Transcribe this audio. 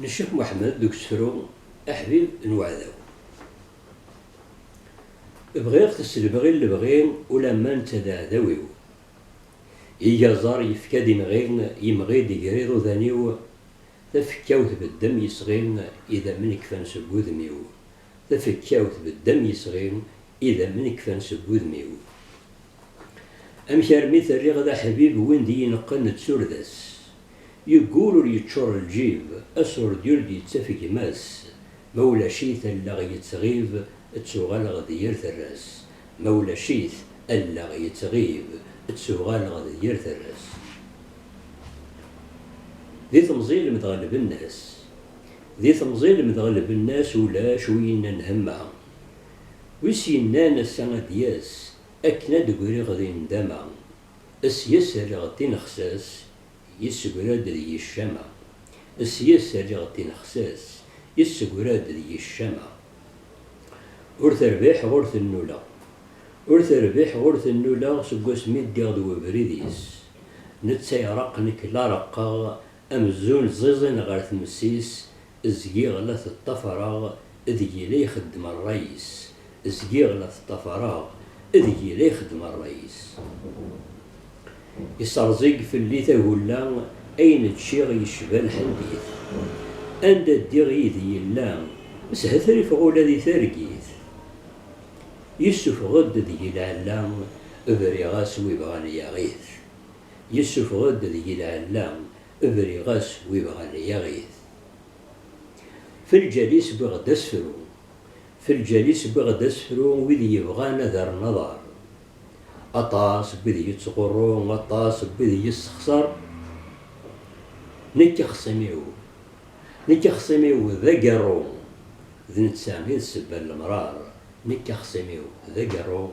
n Ccix Muḥemmed deg usefru Aḥbib n weɛdaw. Bɣiɣ t s lebɣi n lebɣi ulamma netta d aɛdaw-iw. Iga aẓar yefka-d inɣi, yemɣi-d iger iḍudan-iw, tafekka-w tbeddem yesɣi, idammen kfan seg wudem-iw, tafekka-w tbeddem yesɣi, idammen kfan seg wudem-iw. Amek armi t-rriɣ d aḥbib win d-iyi-neqqen d turda-s? Yeggul ur yeččur lǧib, asurdi ur d-yettaf gma-s, ma ulac-it allaɣ yettɣib, ttuɣaleɣ d yir terras, ma ulac-it allaɣ yettɣib, ttuɣaleɣ d yir terras. Di temẓi lemdeɣ lbenna-s, di temẓi lemdeɣ lbenna-s ulac wi yennan hemma, wi s-yennan ass-a ad d-yas, akken ad d-griɣ di ndama, Sya-s rriɣ-d tinexsas, yessegra-d deg-i ccama. Sya-s rriɣ-d tinexsas, yessegra-d deg-i ccama. Ur terbiḥeɣ ur tennuleɣ. Ur terbiḥeɣ ur tennuleɣ seg wasmi ddiɣ d webrid-is. Netta ireqq nekk la reqqeɣ Amzun ẓiẓin ɣer tmes-is, zgiɣ la t-ṭṭafareɣ, deg-i la ixeddem rray-is. Zgiɣ la t-ṭṭafareɣ, deg-i la ixeddem rray-is. Iserẓig fell-i tagulla, ayen ččiɣ yecba lḥendit. Anda ddiɣ yid-i yella, shetrifeɣ ula di targit. Yessufeɣ-d deg-i lɛella, briɣ-as wi bɣan yaɣ-it. yessufeɣ-d deg-i lɛella, briɣ-as wi ibɣan yaɣ-it. F lǧal-is wwiɣ-d asefru, F lǧal-is wwiɣ-d asefru wid yebɣan ad rren aḍar. Aṭas n wid yettɣurru, aṭas n wid yessexṣer, nekk axṣim-iw, nekk axṣim-iw d agerru, d netta i d sebba n lemrar, nekk axṣim-iw d agerru,